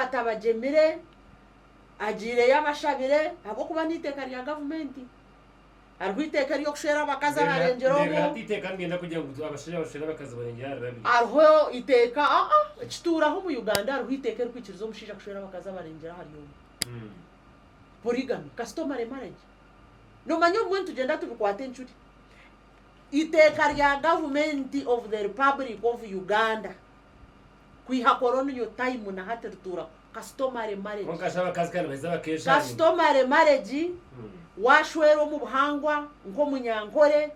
atabagyemire, agiireyo abashabire ahabw'okuba n'eiteeka rya gavumenti hariho eiteeka ery'okushwera abakazi aharengire omu, hariho eiteeka ekituuraho omu Uganda hariho eiteeka erikwikiriza omushaija kushwera abakazi abarengire ahari omu, polygamy, customary marriage, noomanya obumwe nitugyenda tubikwata encuri, eiteeka rya gavumenti of the republic of Uganda. kwiha koroniyo tayimu naha tirituura ku customary marriage Kwonka shi abakazi ka nibaheza bakeshanyima? Customary marriage washwera omu buhangwa nk'omunyankore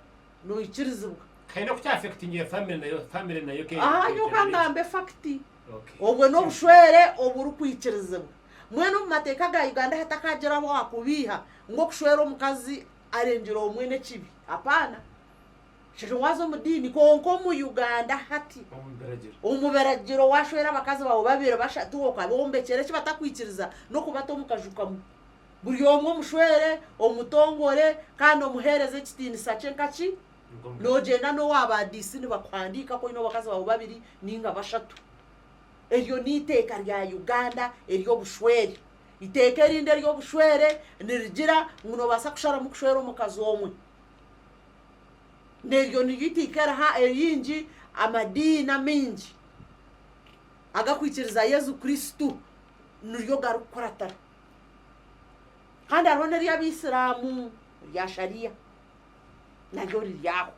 noikirizibwa. Haine oku kya affectingira family nayo family nayo ke Aha nyowe ka ngambe efakiti Okay. obwe n'obushwere oburikwikirizibwa mbwenu omu mateeka ga Uganda hatakagiraho owaakubiiha ngu okushwera omukazi arengire omwe n'ekibi apaana. Shesho waza omu diini kwonka omu Uganda hati omu biragiro washwera abakazi bawe babiri bashatu okabombekyera eki batakwikiriza nokubata omu kaju kamwe buri omwe omushwere omutongore kandi omuhereze ekitiinisa kye nkaki nogyenda nowa ba DC nibakuhandiika ku oyine abakazi bawe babiri ninga bashatu eryo niteeka rya Uganda eryobushwere iteeka erindi eryobushwere nirigira ngu nobasa kusharamu kushwera omukazi omwe. neryo niryo itaika eriha eringi amadiini amaingi agakwikiriza Yesu Kristo niryo garikukuratira. Kandi hariho n'ery'Abaisiraamu erya Sharia naryo riri aho.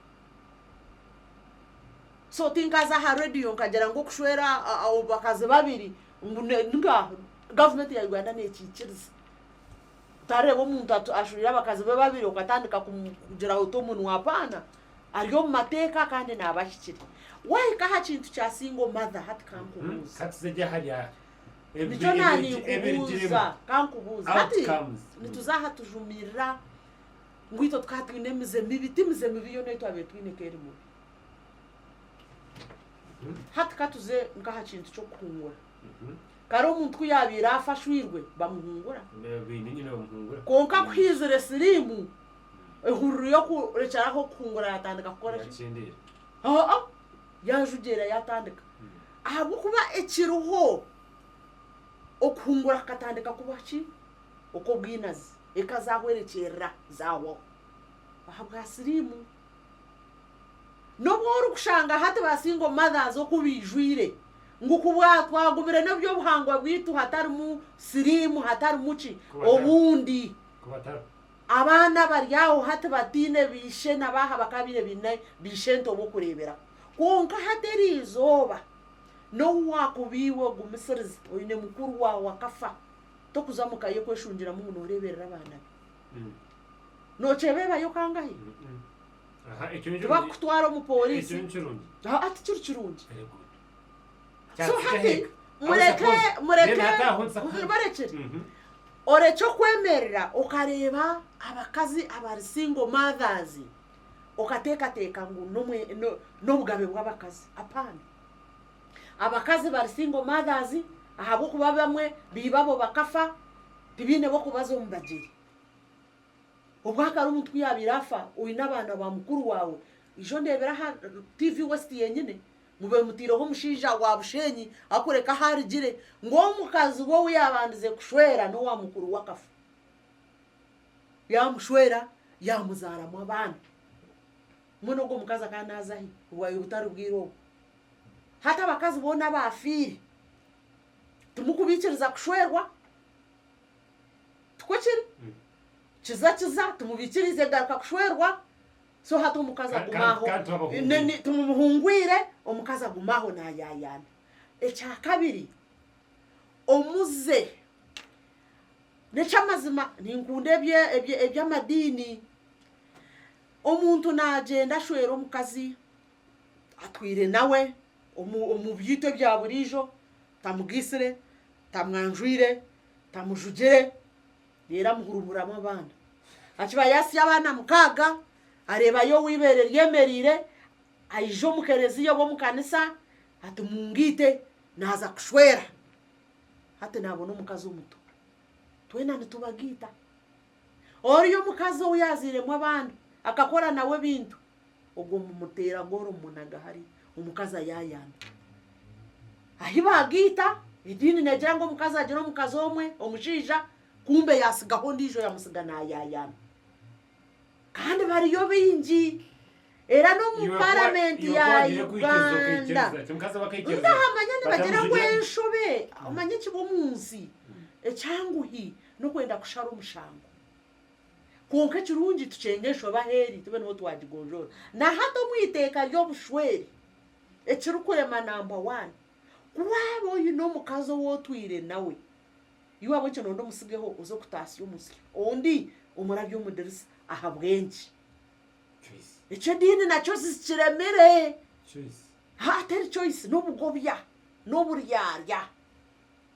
So tinkaza aha radiyo nkagira ngu okushwera abakazi babiri ngu ninga gavumenti ya Uganda neekiikiriza. Tareeba omuntu atu ashwire abakazi be babiri okatandika kumugiraho oti omunwa apaana ari omu mateeka kandi naaba ahikire. Waahika aha kintu kya single mother hati kankubuuze. Nikyo naaninkubuuza kankubuuze. Hati nituza aha tujumirira ngu itwe tukaba twine emize mibi. Ti mize mibi yoona ei twabaire twine ku eri mubi. Hati katuze nk'aha kintu ky'okuhungura. Kare omuntu ku yaabaire afa ashwirwe bamuhungura. Kwonka ku haizire siriimu, ehururu y'okurekyera aho okuhungura yaatandika kukora ki? Aa-a, yaajugyera yaatandika. Ahabw'okuba ekiriho, okuhungura kukatandika kuba ki? Okw'obwinazi. Eka zaahwerekyerera, zaahwaho. Ahabwa siriimu, N'obu orikushanga hati ba single mothers oku baijwire ngu ku bwatwagumire n'eby'obuhangwa bwaitu hatarimu siriimu hatarimu ki obundi abaana abari aho hati bataine baishe na baaha bakaabaire baine baishe nto b'okureeberaho kwonka hati eriizooba n'owu waakuba iwe ogumisiriza oine mukuru waawe akafa tokuza muka ye kweshungiramu ngu nooreeberera abaana be. Nokyebeebayo kangahi? Tibakukutwara omu pooriisi. Tikiri kirungi. So hati mureke, mureke, barekere. Orekye okwemerera okareeba abakazi abari single mothers okateekateeka ngu n'obugabe bw'abakazi. Apaana. Abakazi bari single mothers ahabw'okuba abamwe beibabo bakafa tibaine b'okubaza omu bagyeri. Obwakare omuntu ku yaabaire afa oine abaana ba mukuru waawe, ija ondeebere aha TV West yenyine ngu beemutaireho omushaija wa busheenyi arikureeka ahu arugire ngu omukazi we ou yaabandize kushwera n'owa mukuru we akafa. Yaamushwera yaamuzaaramu abaana. Mbwenu ogwo mukazi akaba naaza hi? Bwayeye butari bwire obwo? Hati abakazi boona abaafiire timukubaikiriza kushwerwa. Tikwo kiri? Kiza kiza timubaikiriize kugaruka kushwerwa. So hati omukazi aguma aho, timumuhungwire, omukazi aguma aho naayaayaana. Ekya kabiri, omuze. N'eky'amazima ninkunda eby'amadiini. Omuntu naagyenda ashwera omukazi. atwire nawe omu byaitu ebya buriijo, tamugaitsire, tamwanjwire, tamujugire reero amuhurumuramu abaana. Akiba yaatsya abaana mukaaga, areebayo ow'eibeere ryemereire, aija omu kerezia oba omu kanisa ati mungaite naaza kushwera. Hati naabona omukazi omuto. Twena nitubagaita. Oriya omukazi ou yaazairemu abaana akakora nawe ebintu Ogwo mumuteera goora omumunaga hare omukazi ayayambe. Ahi bagaita, ediini negira ngu omukazi agire omukazi omwe, omushaija, kumbe yatsigaho ondiijo yamutsiga nayayamba. Kandi bariyo baingi. Era n'omu paramenti ya Uganda. Nkahamanya nibagira ngu enshobe, omanya ekibi omu nsi, ekyanguhi, n'okwenda kushara omushango. Kwonka ekirungi tukyenge enshobe aheeri tube niho twagigonjoora. Na hati omu iteeka ry'obushwere ekirikurema namba waani, ku waaba oine omukazi ou otwire nawe, iwe ahabw'ekyo noonda omutsigeho oze kutaasya omusyo ondi omurabye omu dirisa ahabw'enki? Ekyo ediini nakyo zikiremire. Haa teri choice, n'obugobya n'oburyarya.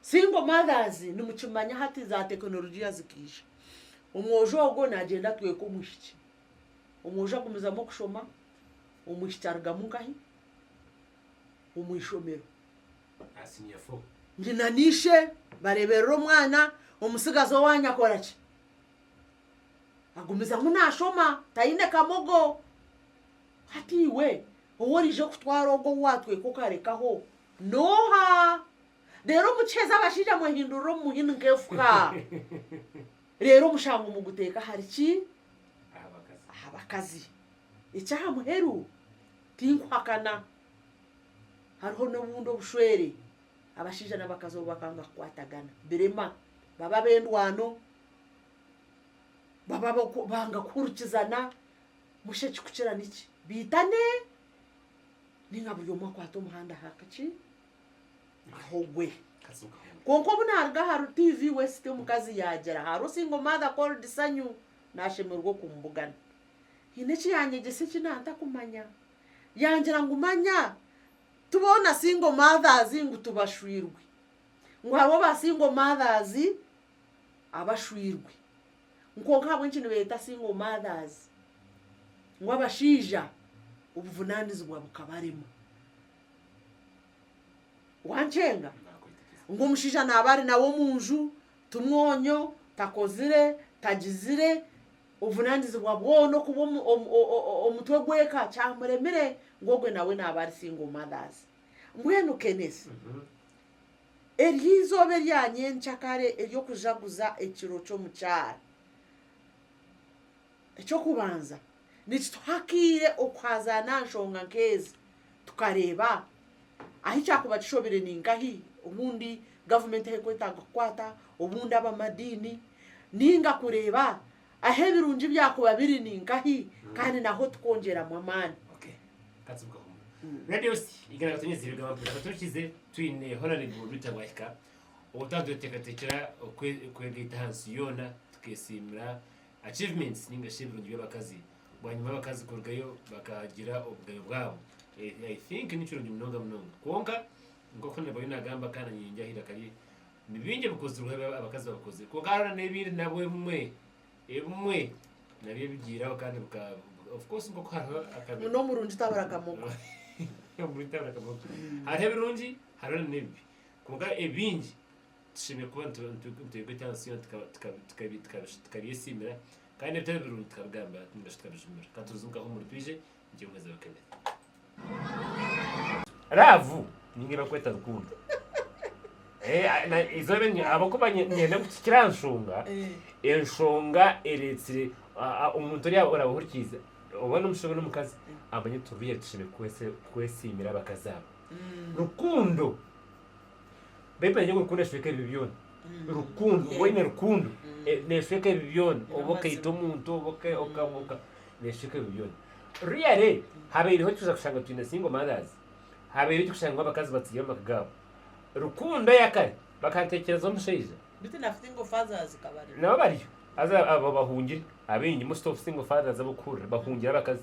Single mothers nimukimanya hati za tekinologia zikaija, omwojo ogwo nagyenda atweka omwishiki, omwojo agumizamu okushoma, omwishiki arugamu nkahi? Omwishomero. Aha senior four. Nyina n'ishe bareberera omwana, omutsigazi owanyu akora ki? Agumizamu nashoma, tayine kamogo. Hati iwe oworije kutwara ogwo owu watweka okarekaho n'oha? Reero mukiheza abashaija mwehindurire omu muhini nk'efuka. Reero omushango muguteeke ahari ki? Aha bakazi. Eky'aha muheru, tinkuhakana hariho n'obundi obushwere abashaija n'abakazi obu bakanga kukwatagana birema, baba ab'endwano, baba banga kuhurikizana, musha ekikukira niki? Baitane, nainga buri omwe akwate omuhanda aha ki? Mahogwe. Kwonka obu naaruga ahari TV West omukazi yaagira hariho single mother called Sanyu naashemererwa okumbugana. Haine eki yaanyegyesa eki naantakumanya. Yangira ngu manya ti boona single mothers ngu tibashwirwe. Ngu hariho aba single mothers abashwirwe. Kwonka ahabw'enki nibeeyeta single mothers? Ngu abashaija obuvunaanizibwa bukabarema. wankyenga ngu omushaija naaba ari nawe omu nju ti mwonyo, takozire, tagizire, obuvunaanizibwa bwona okuba omutwe gw'eka kyamuremire ngu ogwe nawe naaba ari single mothers. Mbwenu Kenneth, ery'eizooba erya nyenkya kare ery'okujaguza ekiro ky'omukyara. Eky'okubanza, nikituha akaire okuhaazaana aha nshonga nk'ezi tukareeba ahu kyakuba kishobire ni nkahi obundi gavumenti ahu erikwetaaga kukwata, obundi abamadiini, nainga kureeba ahu ebirungi byakuba biri ni nkahi kandi n'ahu tukwongyeramu amaani. Achievements ninga shi ebirungi by'abakazi bwanyima abakazi kurugayo bakagira obugabe bwabo I think nikirungi munonga munonga kwonka nkoku nabire nagamba kandi na nyeyengyaho eiraka rye nibingi ebikozirweho ebi abakazi babikozire kwonka hariho na n'ebindi nabwo ebimwe ebimwe nabyo ebigiiraho kandi bika of course nkoku hariho akabi muno omurungi tabura kamogo Omuntu abarakamogo. hariho ebirungi hariho na n'ebibi kwonka ebingi Tushemereire kuba nitwega eki aha nsi yoona tukabyesiimira, kandi ebitari birungi tukabigamba nainga shi tukabijumira. Ka tubuuze nkaha omuri Twije nikiija kuhwezibwa Kenneth. Laavu niinga ebakweta rukundo. Ahabw'okuba niinyenda ngu kikire aha nshonga, enshonga ereetsire omuntu oriya oraba ohurikiize oba n'omushija oba n'omukazi amanye ngu Twije tushemereire kwesiimira abakazi abo. Rukundo. Beitu naija kurukundo nesweeka ebibi byona, rukundo waaba oine rukundo nesweeka ebibi byona, waaba okaita omuntu nesweeka ebibi byona, really habaireho ekituza kushanga twine single mothers, habaireho ekitushanga abakazi batiire amaka gaabo, rukundo eyakare bakanteekyereza omushaija, nabo bariyo, haza abo abahungire abaingi most of single fathers abu orikuhurira bahungire abakazi.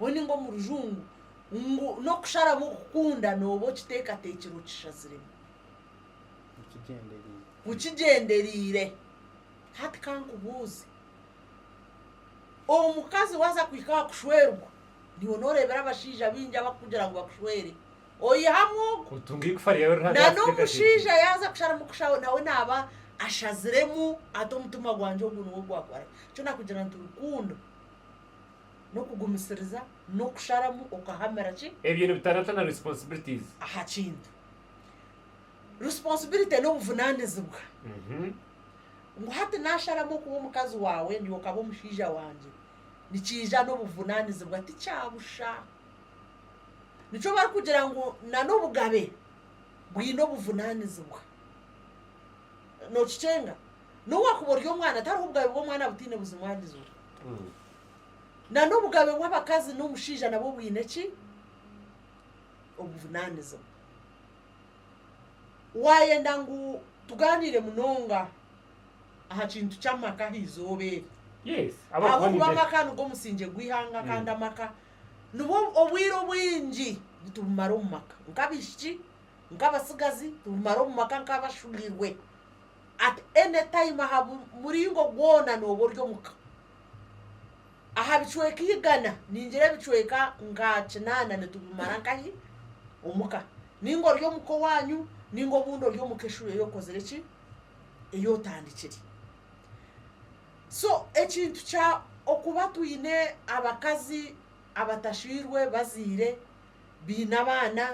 we ninga omu rujungu ngu n'okusharamu okukunda nooba okiteekateekire okishaziremu okigyendereire. Hati ka nkubuuze, omukazi waaza kuhika aha kushwerwa, niiwe nooreebera abashaija baingi abarikukugira ngu bakushwere oyihamu ogu? Na n'omushaija yaaza kusharamu kusha nawe naaba ashaziremu ati omutima gwangye ogu niwe ogwakora. Nikyo nakugira nti rukundo. n'okugumisiriza n'okusharamu okahamira ki? Ebyo nibitarata na responsibilities. Aha kintu. Responsibility n'obuvunanizibwa. Ngu hati nasharamu okuba omukazi wawe niwe okaba omushaija wangye, nikiija n'obuvunanizibwa tikyabusha. Nikyo barikugira ngu na n'obugabe bwine obuvunanizibwa. Nokicenga? N'owakuba ori omwana tihariho obugabe bw'omwana butaine buzimwanizibwa. Na n'obugabe bw'abakazi n'omushaija nabwo bwine ki? Obujunaanizibwa. Waayenda ngu tugaaniire munonga aha kintu ky'amaka aha izooba eri? Yes. Ahabw'okuba amaka nigwo musingye gw'eihanga kandi amaka nibwo obwire obwingi nitubumara omu maka nk'abaishiki, nk'abatsigazi, tubumara omu maka nk'abashubirwe. At any time aha muringo gwona nooba ori omu ka. aha bicweka igana ningira ebicweka nka kinaana nitubimara nkahi omuka ninga ori omuka owanyu ninga obundi ori omuka eshuri eyi okozire eki eyi otandikire so ekintu kya okuba twine abakazi abatashwirwe bazaire baine abaana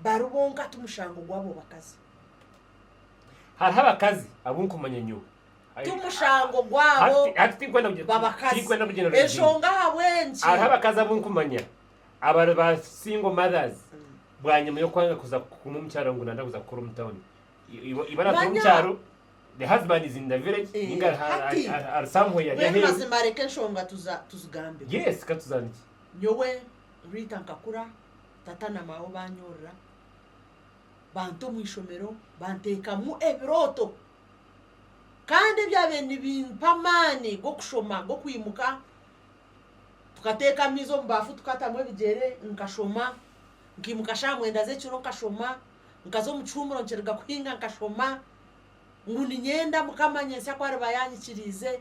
bari bonka timushango gwabo bakazi. Hariho abakazi abu nkumanya nyowe Ti mushango gwabo babakazi. Enshonga ahabw'enki? Hariho abakazi abu nkumanya abari ba single mothers bwanyima y'okwanga kuza kuguma omu kyaro ngu nanda kuza kukora omu tawuni, iwe oratura omu kyaro, the husband is in the village ninga ari somewhere ari aheeru. Mbwenu mazima reka enshonga tuzigambeho. Yes katuzandikye. Nyowe Rita nkakura, tata na mawe banyorora, banta omu ishomero, banteekamu ebirooto. Kandi ebyabaire nibimpa amaani g'okushoma g'okwimuka tukateeka amaizi omu baafu tukatamu ebigyere nkashoma, nkimuka shaaha mwenda z'ekiro nkashoma, nkaza omu kihuumuro nikiruga kuhinga nkashoma, ngu niinyenda Mukama nyentsya ku ariba yaanyikiriize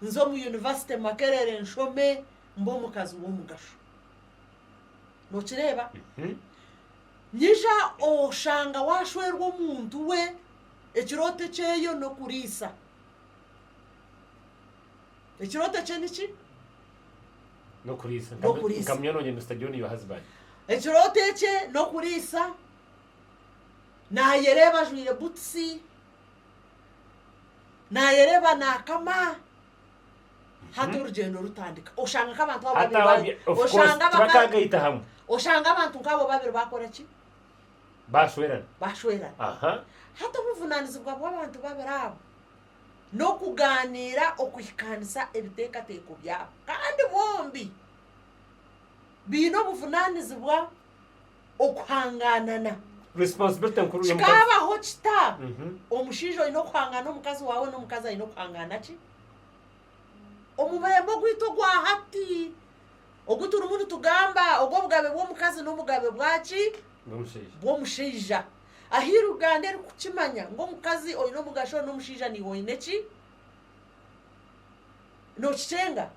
nze omu yunivasite Makerere nshome mbe omukazi w'omugasho. Nookireeba? Nyija oshanga waashwerwa omuntu we. Ekirooto ekyeyo n'okuriisa. Ekirooto ekye niki? N'okuriisa. N'okuriisa. Nka munywani wangye Mister John your husband. Ekirooto ekye n'okuriisa, naayereeba ajwaire butusi, naayereeba naakama, hati orugyendo rutandika. Oshanga nk'abantu abo Hati babiri ababya, ba- of course, oshanga abaka- tibakaagaita hamwe. oshanga abantu nk'abo babiri baakora ki? Baashwerana. Baashwerana. Aha. Hati obuvunaanizibwa bw'abantu babiri abo n'okugaaniira okuhikaanisa ebiteekateeko byabo. Kandi bombi baine obuvunaanizibwa okuhangaanana. Responsibility nkuru y'omukazi. Kikaabaho kita, omushaija oine okuhangaana omukazi waawe n'omukazi aine okuhangaana ki? omubembe ogwaitu ogwa hati ogu turimu nitugamba ogw'obugabe bw'omukazi n'obugabe bwaki? bw'omushaija. Ahi Uganda erikukimanya ngu omukazi oine omugasho n'omushaija niiwe oine ki? Nookikyenga?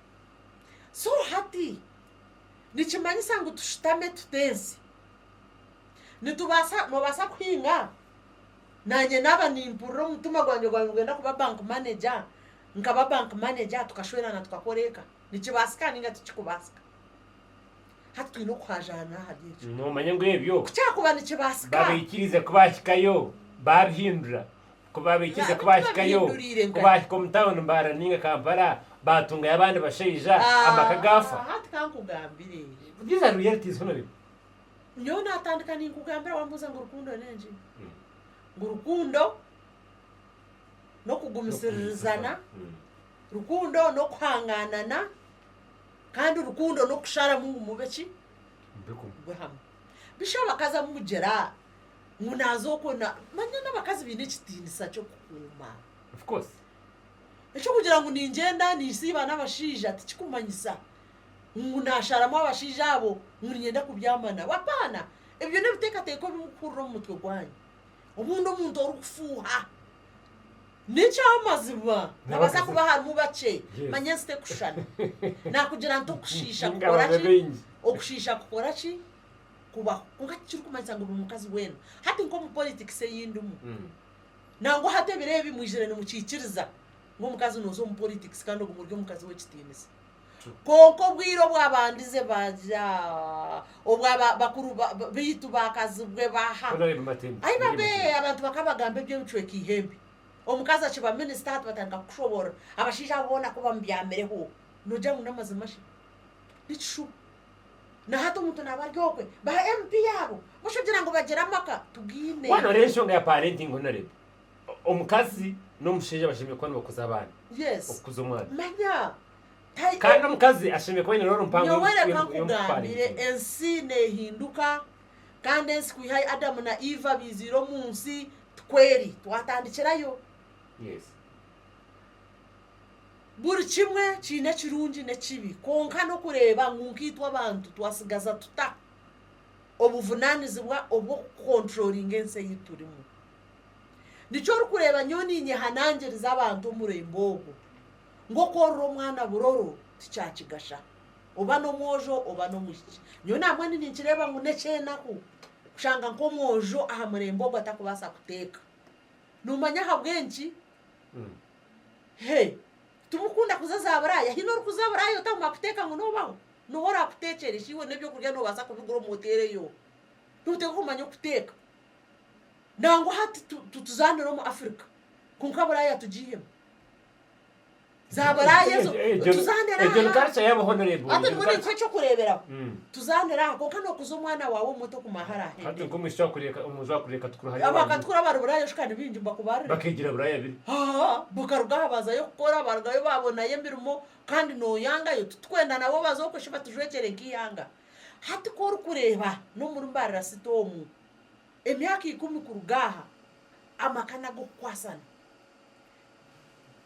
So hati nikimanyisa ngu tushutame tute ensi? Nitubaasa noobaasa kuhinga? Naanye naaba nimpurira omu mutima gwangye gwaaba nigwenda kuba bank manager, nkaba bank manager tukashwerana tukakora eka nikibaasika ninga tikikubaasika? Hati twine okuhaajaana ahari ekyo. Noomanya ngu ebyo Ku kyakuba nikibaasika. baabaikiriza ku baahikayo baabihindura, ku baabaikiriza ku Nabyo baahikayo, tibabihinduriire ku nkati. baahika omu tawuni Mbaara ninga Kampala baatungayo abandi bashaija amaka gaafa. Ah, hati ka nkugambire. These are realities hunu biri. Nyowe naatandika ninkugambira waambuuza ngu rukundo n'enki? Ngu rukundo n'okugumisiririzana, rukundo n'okuhangaanana, kandi rukundo n'okusharamu ngu mube ki? Mube hamwe. Bishi abakazi abu mugira ngu naaza okwo na. Manya n'abakazi baine ekitiinisa ky'okukuuma. Eky'okugira ngu ningyenda ninsiiba n'abashaija tikikumanyisa ngu naasharamu abashaija abo ngu niinyenda kubyama nabo. Apaana! Ebyo n'ebiteekateeko ebi murikuhurira omu mutwe gwanyu. obundi omuntu orikufuuha n'ekyamazima nabaasa kuba harimu bakye manya ensi tekushushana nakugira nti okushiisha kukora ki okushiisha kukora ki kubaho kwonka tikirikumanyisa ngu buri mukazi weena hati nk'omu politics ei ndimu nangwa hati ebiro ebi mwijire nimukikiriza ngu omukazi noza omu politics kandi oguma ori omukazi w'ekitiinisa. Kwonka obwire obwabandize baagira obwo bakuru baitu baakazibwe baha? Aibabe, abantu bakabagamba eby'ebicweka eihembe. Omukazi akiba minisita hati batandika kukushoboorora. Abashaija abo boona ku bamubyamireho, noogira ngu n'amazima shi? Nikishuba. Na hati omuntu naaba ari okwe. Ba MP abo, busha ogira ngu bagira amaka? Tigaine. Waanoorora enshonga ya Parenti Honorable, Omukazi n'omushaija bashemereire kuba nibakuza abaana, okukuza omwana. Kandi omukazi ashemereire kuba aine rooro mpango y'omu kutwara ebitabo. Nyowe reka nkugambire, ensi neehinduka, kandi ensi kwiha Adamu na Iva baiziire omu nsi, tikweri? Twatandikirayo. Buri kimwe kiine ekirungi n'ekibi, kwonka n'okureeba ngu nkaitwe abantu twatsigaza tuta obuvunaanizibwa obw'okukwontroringa ensi ei turimu. Nikyo orikureeba nyowe ninyehanangiriza abantu omurembe ogwo, ngu oku oriri omwana buroro tikyakigasha oba n'omwojo oba n'omwishiki. Nyowe naamwanyine ninkireeba ngu n'ekyenaku kushanga nk'omwojo aha murembe ogwo atakubaasa kuteeka. Noomanya ahabw'enki? He, timukunda kuza za buraaya? Haine orikuza buraaya otakumanya kuteeka ngu noobaho? N'oha oraakuteekyere? Shi iwe n'eby'okurya noobaasa kubigura omu hoteeri eyo? Nooteeka kumanya okuteeka? nangwa hati tutuzaanira omu Afirika kwonka buraaya tugiihemu za buraaya ezo tuzaanira aha hati nimwo ninkuha eky'okureeberaho tuzaanira aha kwonka nookuza omwana waawe omuto kumara hariya ahendere abakatukura abari buraaya shi ka nibaingi nibakubarire haa bakaruga aha bazayo kukora baarugayo baabonayo emirimo kandi nooyangayo titukwenda nabo baze okwe shi batujwekyere nk'eihanga. Hati ku orikureeba n'omuri mbarirasita omu, emyaka ikumi kuruga aha, amaka n'ag'okukwasana.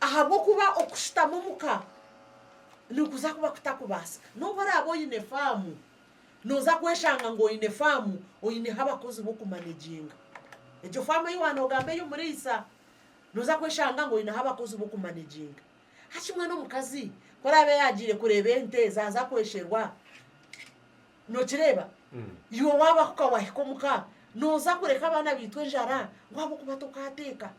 Ahabw'okuba okushutama omu ka nikuza kuba kutakubaasika. N'obu oraabe oine faamu, nooza kweshanga ngu oine faamu oineho abakozi b'okumaneginga. Egyo faamu ei waaba noogamba ey'omuriisa, nooza kweshanga ngu oineho abakozi b'okumaneginga. hakimwe n'omukazi ku araabe yaagiire kureeba ente zaaza kwesherwa. Nookireeba? Iwe waabaho ka waahika omu ka, nooza kureka abaana baitu enjara ngu ahabw'okuba tokaateeka.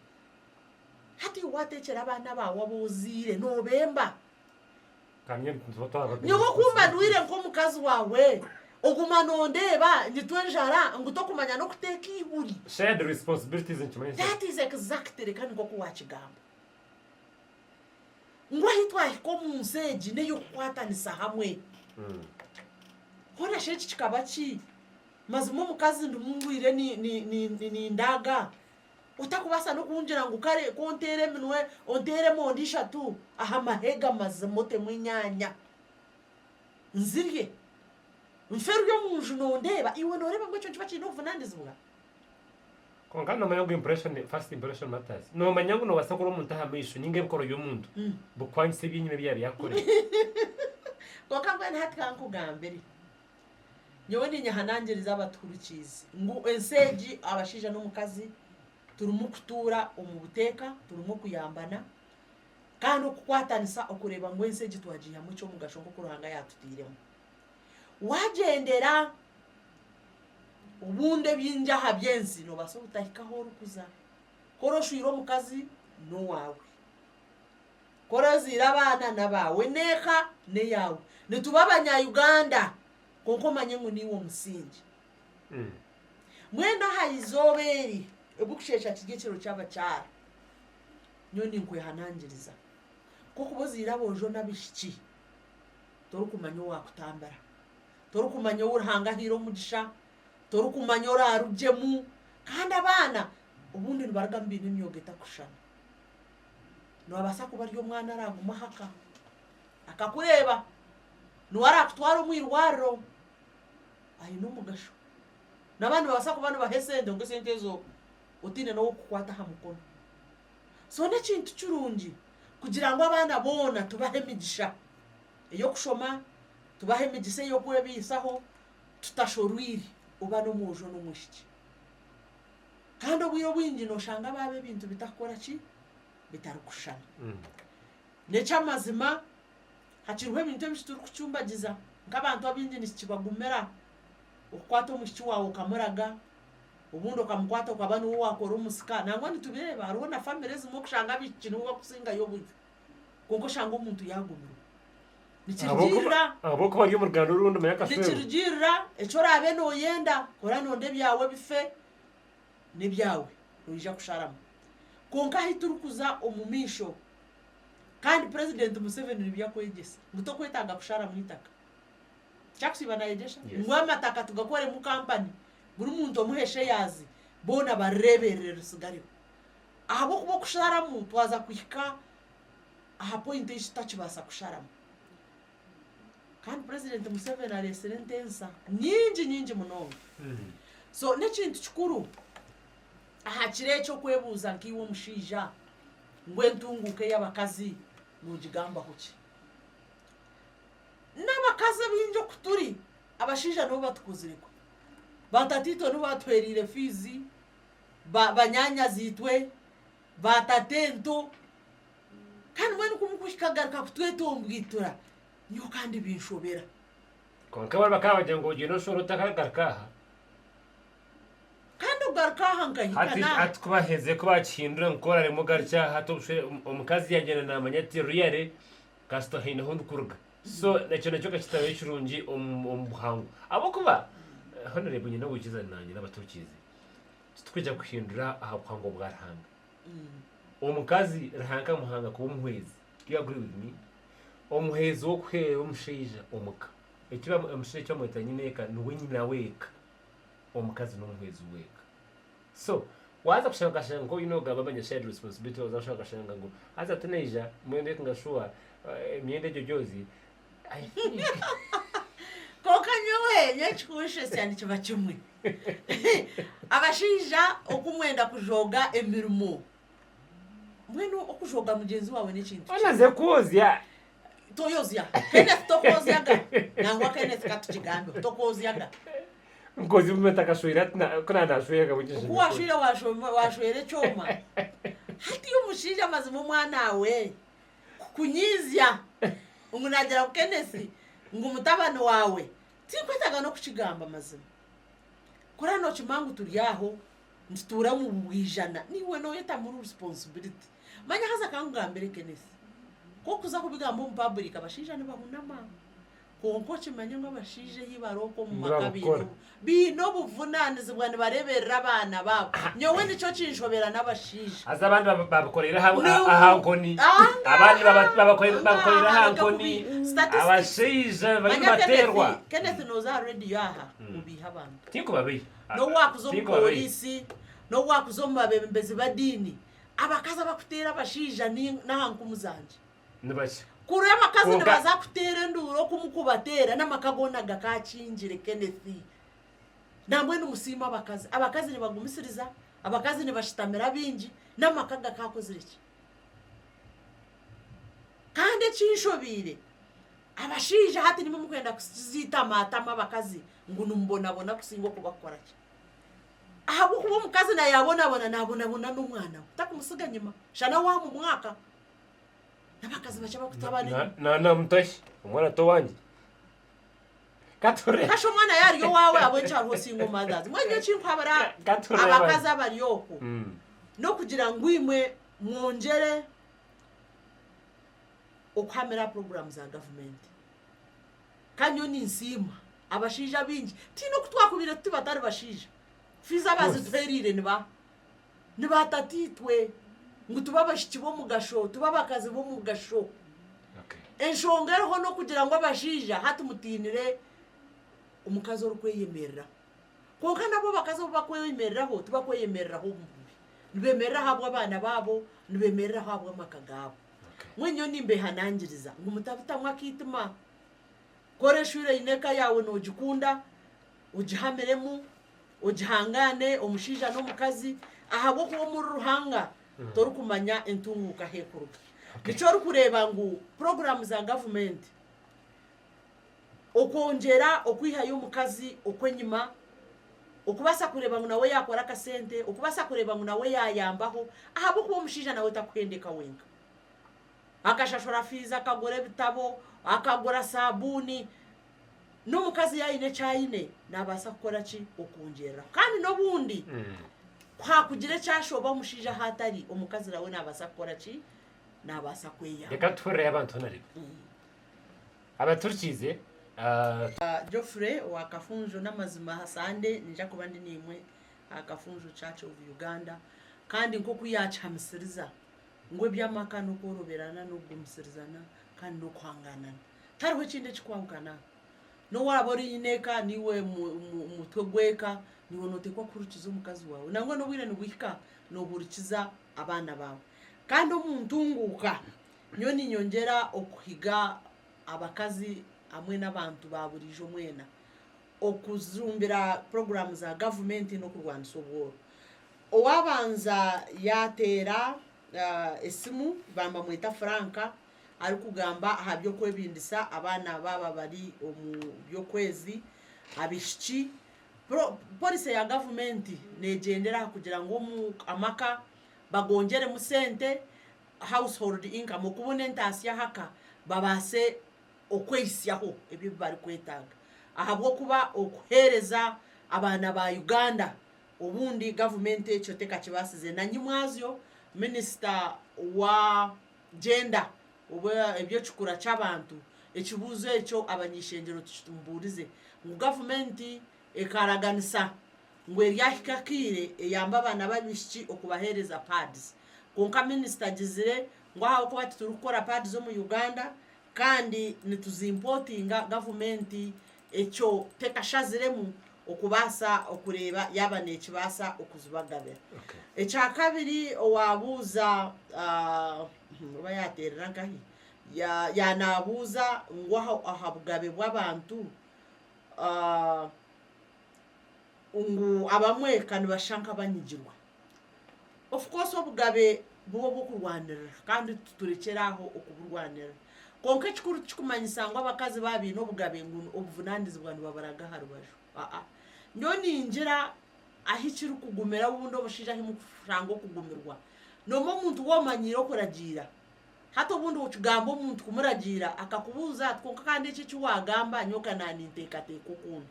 Hati iwe waateekyera abaana baawe abu ozaire noobemba. Nyowe ku mba ndwaire nk'omukazi waawe, oguma noondeeba nyitwe enjara ngu tokumanya n'okuteeka eihuri. That is exactly kandi nk'oku waakigamba. ngu ahi twahika omu nsi egi n'ey'okukwatanisa hamwe. Hoona shi eki kikaba ki? Mazima omukazi ndimu ndwire nindaaga, otakubaasa n'okungira ngu kare ku onteera eminwe, onteera emondi ishatu aha mahega mazima otemu enyaanya nzirye, nfe ori omu nju nondeeba, iwe nooreeba ngu ekyo nikiba kiine obuvunaanizibwa? Kwonka nomanya ngu impression, first impression matters. Nomanya ngu nobasa kurora omuntu aha maisho ninga ebikorwa byomuntu bikukwangisa ebyenyima ebi yabiire akukorire. Kwonka mbwenu hati ka nkugambire. Nyowe ninyehanangiriza abatuhurukiizi ngu ensi egi abashaija n'omukazi turimu kutuura omu buteeka, turimu kuyambana kandi okukwatanisa okureeba ngu ensi egi twagiihamu ekyomugasho nk'oku Ruhanga yaatutairemu. Waagyendera obundi ebingi aha by'ensi noobaasa obutahika ahu orikuza. Ku orashwire omukazi n'owaawe. Ku orazaire abaana n'abaawe. Enu eka n'eyaawe. Nituba Abanyayuganda kwonka omanye ngu niiwe omusingi. Mbwenu aha izooba eri ebirikusheesha kiri ekiro ky'abakyara, nyowe ninkwehanangiriza ku orikuba ozaire aboojo n'abaishiki. torikumanya owaakutambira, torikumanya ou Ruhanga ahaire omugisha, torikumanya oraarugyemu. Kandi abaana obundi nibarugamu baine emyoga etarikushushana. Noobaasa kuba ari omwana araagume aha ka, akakureeba, niwe araakutwara omu irwariro, aine omugasho. N'abandi nibabaasa kuba nibaha esente kwonka esente ezo otaine n'ow'okukukwata aha mukono. So n'ekintu kirungi kugira ngu abaana boona tubahe emigisha ey'okushoma, tubahe emigisa ey'okwebaisaho tutashorwire oba n'omwojo n'omwishiki. Kandi obwire obwingi nooshanga baaba ebintu bitarikukora ki? Bitarikushushana. N'eky'amazima hakiriho ebintu ebi turikucumbagiza. Nk'abantu abaingi nikibagumira okukwata omwishiki waawe okamuraga. obundi okamukwata okaba niwe owakora omusika nangwa nitubireeba hariho na family ezimwe okushanga abaishiki nibo bakusingayo oburyo kwonka oshange omuntu yagumirwa nikirugiirira ahabw'okuba ari omu ruganda orundi manya akasheero nikirugiirira eki oraabe nooyenda ku oraabe nooyenda ebyawe bife n'ebyawe noija kusharamu kwonka ahi turikuza omu maisho kandi president Museveni nibyo akwegyesa ngu tokwetaaga kusharamu eitaka. Kyakusiiba nayegyesha Yes. ngu amataka tugakoremu kampani buri muntu omuhe sheyazi boona barireeberere risigareho ahabw'okuba okusharamu twaza kuhika aha poyinti ei tutakibaasa kusharamu kandi purezidenti Museveni areetsire entensa nyingi nyingi munonga so n'ekintu kikuru aha kiro eki okwebuuza nkaiwe omushaija ngu entunguuka ey'abakazi noogigambaho ki N'abakazi abaingi oku turi, abashaija nibo batukozire kubi. Baatataitwe nibo baatuheriire fiizi, banyaanyazi-itwe, baatata ento, kandi mbwenu ku mukuhika agaruka kutweta ombwituura, nyowe kandi binshobera. Kwonka abandi bakaba nibagira ngu ogiine oshwere ota akaagaruka aha? Kandi okugaruka aha nkahika n'aha? Hati ku baherize ku baakihindura, ngu ku oraareemwe ogarukye aha, hati omushwere, omukazi yaagyenda naamanya ati, Reely, kasita haine ahu ndikuruga so nekyo nakyo kakitaayo kirungi omu buhangwa ahabw'okuba hoona reeba oine owaikiza nanye naba turikiize titurikuja kuhindura aha buhangwa bwa Ruhanga omukazi Ruhanga akamuhanga kuba omuhwezi do you agree with me? omuhwezi w'okuheerera omushaija omuka omushaija eki bamweta nyine eka niwe nyina w'eka omukazi n'omuhwezi w'eka. So waza kushaba okashanga nkoine nogamba manya shared responsibility waza kushaba okashanga ngu haza tinaija mbwenu reka nga shuwa emyenda egyo gyozi I think Konka nyowe nyowe ekikunshesya nikiba kimwe abashaija oku mwenda kujooga emirimo mbwenu okujooga mugyenzi wawe nekintu kibi. Onaze kwozya Toyozya. Kenneth tokwozyaga. Nangwa Kenneth ka tukigambeho. Tokwozyaga. Mukozi bumwe atakashwera ati na- ku na nashwera kabwe Ku nkyeshembe washwire kwe. washoma- washwera ekyoma. Hati omushaija mazima omwanaawe kukunyiizya ngu naagira ngu Kenneth ngu mutabani waawe. Tinkwetaaga n'okukigamba mazima. Kora nookimanya ngu turi aho. nitutuura omu bwijana naiwe noyeta muri responsibility manya haza kankugambire Kenneth ku orikuza kubigambo omu public abashaija nibahunama kwonka okimanye ngu abashaija eyi bari oku omu maka baine obuvunanizibwa nibareberera abaana baabo nyowe nikyo kinshobera nabashaija haza abandi babikoreire aha nkoni abandi babikoreire aha nkoni abashaija bariyo nibaterwa Kenneth noza aha radio aha obiiha abantu tinkubabiiha. n'owaakuza omu pooriisi, n'owaakuza omu babeembezi b'ediini, abakazi abakuteera abashaija n'aha nkumu zangye nibakye. Kuri abakazi nibaza kuteera enduuru oku mukubateera n'amaka goona gakaakingire. Kenneth, Nambwenu musiime abakazi. Abakazi nibagumisiriza, abakazi nibashitamira abaingi, n'amaka gakaakozire ki? Kandi ekinshobeire, Abashaija hati nimwo murikwenda kusiitaamaatamu abakazi ngu nimubonabona kusinga okubakora ki? Ahabw'okuba omukazi na yaabonabona naabonabona n'omwana we takumutsiga nyima shana waama omwaka n'abakazi bakye abakutabanira. Naana mutahi, omwana towangye. Katurebe. Kasha omwana yaari owaawe ahabw'enki hariho single mothers. Mbwenu nyowe ekinkuhabura Katurebe. abakazi abari okwo Mm. n'okugira ngu imwe mwongyere okuhamira aha puroguraamu za gavumenti. Kandi nyowe ninsiima abashaija abaingi, tihaine oku twakubaire tuti batari bashaija, fiizi abazituheereire ni ba ni ba tataitwe ngu tube abaishiki b'omugasho, tube abakazi b'omugasho. Enshonga eriho n'okugira ngu abashaija hati mutiinire omukazi orikweyemereraho. Kwonka nabo abakazi obu bakwemereraho, tibakweyemereraho omu bubi. Nibemereraho ahabw'abaana baabo, nibemereraho ahabw'amaka gaabo. Mbwenu nyowe nimbehanangiriza ngu mutabutamu akaitima. Ku oreshwire oine eka yaawe noogikunda, ogihamiremu, ogihangaane omushaija n'omukazi ahabw'okuba omuri Ruhanga torikumanya entunguuka ahu erikuruga. Nikyo orikureeba ngu puroguraamu za gavumenti okwongyera okwihayo omukazi okw'enyima, okubaasa kureeba ngu nawe yaakora akasente, okubaasa kureeba ngu nawe yaayambaho ahabw'okuba omushaija nawe takuhendeka wenka. Akashashura fiizi, akagura ebitabo, akagura saabuuni. N'omukazi yaayine eki aine naabaasa kukora ki? Okwongyereraho. Kandi n'obundi ku haakugira eki ashoba omushaija ahu atari, omukazi nawe naabaasa kukora ki? Naabaasa kweyamba. Reka tuhurire ahi abantu boona reero. Abaturikiize. Geoffrey owa Kafunjo N'amazima aha Sande niija kuba ndi naimwe aha Kafunjo Church of Uganda kandi nk'oku yaakihamisiriza ngu eby'amaka n'okworoberana n'okugumitsirizana kandi n'okuhangaanana. Tihariho ekindi ekikwahukana. N'owaaba oine eka naiwe mutwe gw'eka naiwe nooteekwa kuhurikiza omukazi waawe nangwa n'obwire nibuhika noohurikiza abaana baawe. Kandi omu ntunguuka Nyowe ninyongyera okuhiga abakazi hamwe n'abantu ba buriijo mwena okujumbira puroguraamu za gavumenti n'okurwanisa obworo. Owaabanza yaateera esimu bambamweta Frank arikugamba aha by'okwebindisa abaana baaba bari omu by'okwezi, abaishiki. Polisi ya gavumenti neegyendera aha kugira ngu amaka bagongyeremu sente, household income, okubona entaasya aha ka, babaase okwehisyaho ebyo ebi barikwetaaga ahabw'okuba okuheereza abaana ba Uganda obundi gavumenti ekyo tekakibaasize. Na nyimwazyo minisita wa Gender, oba eby'ekikura ky'abantu, ekibuuzo ekyo abany'eishengyero tikitumubuurize ngu gavumenti ekaraganisa ngu eryahika akaire eyambe abaana b'abaishiki okubaheereza pads kwonka minisita agizire ngu ahabw'okuba titurikukora pads omu Uganda kandi nituzimpotinga gavumenti ekyo tekashaziremu okubaasa okureeba yaaba neekibaasa okuzibagabira. Ekya kabiri owaabuuza oba yaateerera nkahi yaaba naabuuza ngu aha bugabe bw'abantu, ngu abamwe ka nibashusha nk'abanyigirwa. Of course obugabe bube obw'okurwanirira kandi turekyere aho okuburwanirira. Kwonka ekikuru tikikumanyisa ngu abakazi baba baine obugabe ngu obuvunaanizibwa nibaburaga aha rubaju. Aa. Nyowe ningira ahi kirikugumira obundi omushaija ahi murikushanga okugumirwa, noomwe omuntu w'omanyiire okuragiira Hati obundi okigamba omuntu kumuragiira akakubuuza ati kwonka kandi eki eki waagamba nyowe ka naaninteekateeka okundi.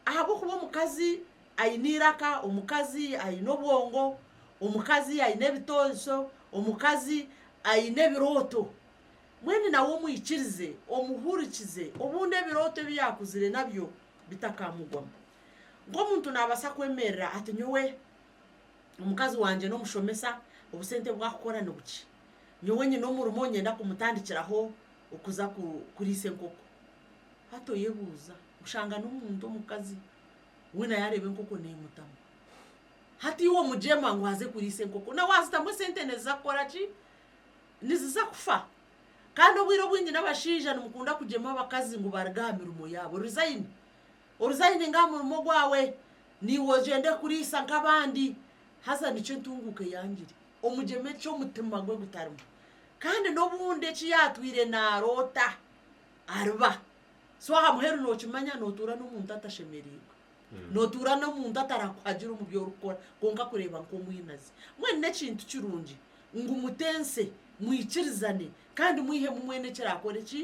Ahabw'okuba omukazi aine eiraka, omukazi aine obwongo, omukazi aine ebitoosho, omukazi aine ebirooto. Mbwenu nawe omwikirize, omuhurikize obundi ebirooto ebi yaakuzire nabyo bitakamugwamu. Nk'omuntu naabaasa kwemerera ati nyowe omukazi wangye n'omushomesa, obusente obu akukora nibukye. nyowe nyine omurimo niinyenda kumutandikiraho okuza kuriisa enkoko. Hati oyebuuza oshanga n'omuntu omukazi we nawe yaareeba enkoko neemutamu. Hati iwe omugyema ngu aze kuriisa enkoko, na waazitamu esente niziza kukora ki? Niziza kufa. Kandi obwire obwingi n'abashaija nimukunda kugyema abakazi ngu baaruga aha mirimo yaabo. Orizayini, orizayini aha murimo gwawe, naiwe ogyende kuriisa nk'abandi. Haza nikyo entunguuka eyangire. omugyema eki omutima gwe gutarimu kandi n'obundi eki yaatwire naaroota ariba so aha muheru nookimanya nootuura n'omuntu atashemereirwe hmm. nootuura n'omuntu atarakuhagira omu byorikukora kwonka kureeba nk'omwinazi mwene n'ekintu kirungi ngu mutense mwikirizane kandi mwihemu mwene ekiraakora eki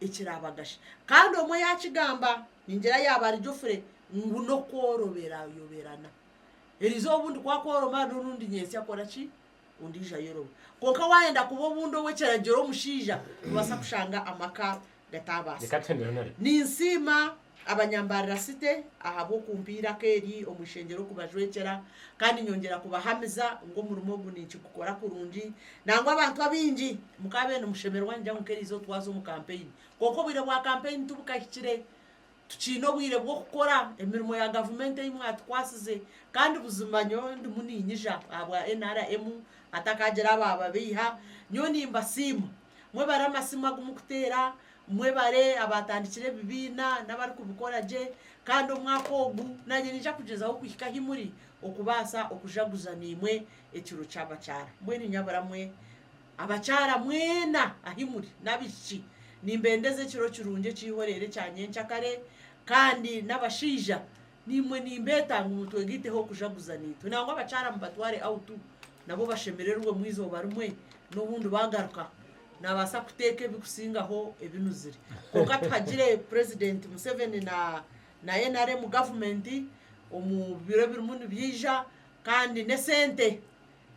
ekiraabagasha kandi omwe yaakigamba ningira yaaba ari jofure ngu n'okworoberaayoberana Eriizooba obundi ku akworoma hariho orundi nyentsya akora ki? Ondiijo ayoroma. Kwonka waayenda kuba obundi ow'ekiragiro omushaija, noobaasa kushanga amaka gataabaasika. Ninsiima abanyambaarira site ahabw'okumpa eiraka eri omu ishengyero okubajwekyera, kandi nyongyera kubahamiza ngu omurimo ogu ninkigukora kurungi. Nangwa abantu abaingi mukaabaire nimushemererwa ningira ngu nk'eriizooba twaza omu kampeyini. Kwonka obwire bwa kampeyini tibukahikire, tukiine obwire bw'okukora emirimo ya gavumenti ei mwatukwasize kandi buzima nyowe ndimu niinyija ahabwa NRM hatakaagira abaababeiha, nyowe nimbasiima mwebare amasimu agu mukuteera, mwebare abaatandikire ebibiina n'abarikubikora gye kandi omwaka ogu naanye ninyija kugyezaho kuhika ahi muri okubaasa okujaguza naimwe ekiro ky'abakyara. Mbwenu inyaburamwe. Abakyara mwena ahi muri, n'abaishiki, nimbendeza ekiro kirungi ekiihoreire ekya nyenkyakare, kandi n'abashaija, naimwe nimbeeta ngu mutwegaiteho kujaguza naitwe. Nangwa abakyara mubatware out, nabo bashemererwemu eizooba rimwe, n'obundi baagaruka, naabaasa kuteeka ebikusingaho ebinuzire. Kwonka tuhagire Purezidenti Museveni na na nrm gavumenti omu biro ebirimu nibyija, kandi n'esente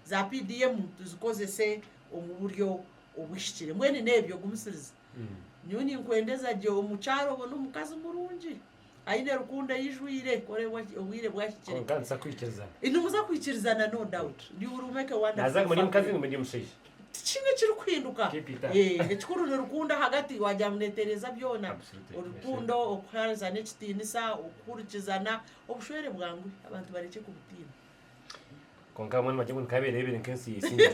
Za PDM tuzikozese omu buryo obuhikire. Mbwenu n'ebyo gumisiriza. Nyowe ninkwendeza gye omu kyaro obone omukazi murungi, aine rukundo eijwire, kora obwire bwahikire. Kwonka nituza kwikiriza. Nimuza kwikirizana no doubt. You will make a wonderful family. Naza ngu ndi mukazi ngu ndi mushaija. Tikiine ekirikuhinduka. Keep it up. Eeh ekikuru ni rukundo ahagati wagira ngu netereeza byona. Absolutely. Orukundo, okuhaanzana ekitiinisa, okuhurikizana, Obushwere bwangwe abantu barekye kubutiina. Kwonka bamwe nibagire ngu nikaberebere nka ensi ya Isingiro.